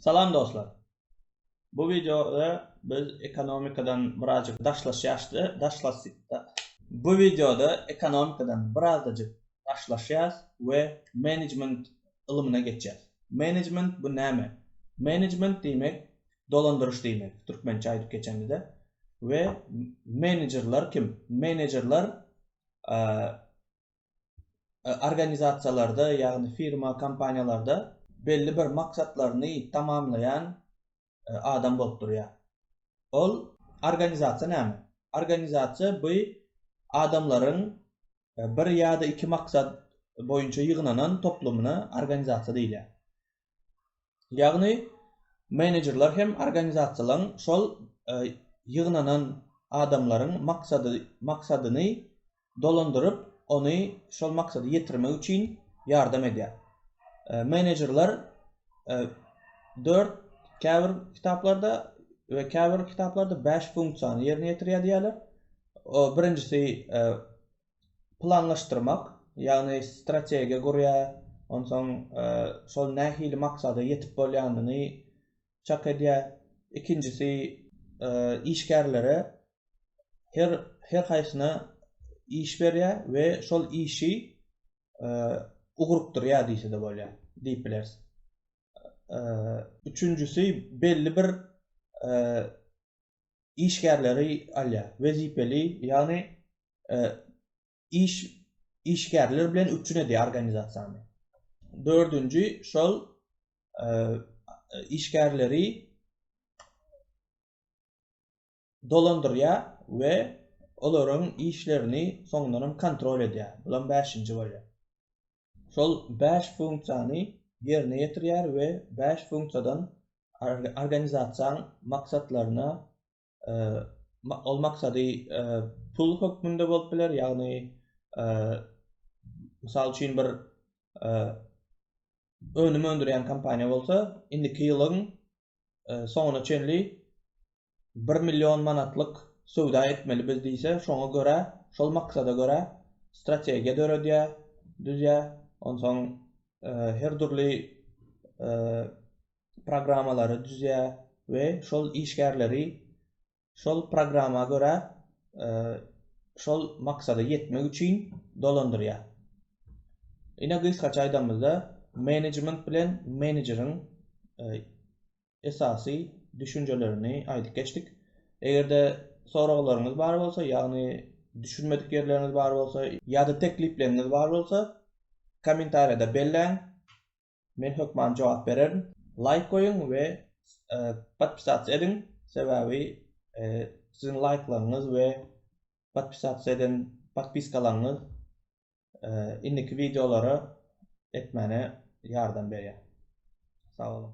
Salam dostlar! Bu wideoda biz ekonomikadan birazjyk daşlaşýaşda daşlaşýda. Bu wideoda ekonomikadan birazdajyk daşlaşýas we menejment ylmyna geçýäs. Menejment bu näme? Menejment diýmek dolandyryş diýmek türkmençe aýdyp geçemizde we menejerler kim? Menejerler organizasiýalarda, ýagny firma, kompaniýalarda belli bir maksatlaryny tamamlaýan adam bolup durýar. Ol organizasiýa näme? Organizasiýa bu adamlaryň bir ýa-da iki maksat boýunça ýygnanan toplumyna organizasiýa diýilýär. Ýagny menejerler hem organizasiýalaryň şol ýygnanan adamlaryň maksady maksadyny dolandyryp, ony şol maksada ýetirmek üçin ýardam edýär. Menejerler dört, käbir kitaplarda we käbir kitaplarda bäş funksiýany ýerine ýetirýär diýýärler. Birinjisi planlaşdyrmak, ýagny strategiýa gurýar, onsoň şol nähili maksada ýetip bolýanyny çak edýär. Ikinjisi, işgärlere her her haýsyna iş berýär we şol işi ugrukdyrýar diýse-de bolýar, diýip bileris. Üçünjisi, belli bir işgärleri alýar. Wezipeli, ýagny iş işgärler bilen üpjün edýär organizasiýany. Dördünji, şol işgärleri dolandyrýar we olaryň işlerini soňundanam kontrol edýär. Bulam bäşinji bolýar. şol bäş funksiýany ýerine ýetirýär we bäş funksiýadan organizasiýaň maksatlaryna ol maksady pul hökmünde bolup biler ýagny mysal üçin bir önüm öndürýän kompaniýa bolsa indiki ýylyň soňuna çenli bir million manatlyk söwda etmeli biz diýse, şoňa görä, şol maksada görä strategiýa döredýär, düzýär, onsoň her dürli programmalary düzýär we şol işgärleri şol programma görä şol maksada ýetmek üçin dolandyrýar. Ine gysgaça aýdanymyzda, menejment bilen menejeriň esasy düşünjelerini aýdyp geçdik. Eger-de soraglaryňyz bar bolsa, ýagny düşünmedik ýerleriňiz bar bolsa ýa-da teklipleriňiz bar bolsa, kommentariýada belläň. Men hökman jogap bererin. Laýk goýuň we podpisatsa ediň, sebäbi siziň laýklaryňyz we podpisatsa eden podpiskalaryňyz indiki wideolary etmäne ýardam berýär. Sag boluň.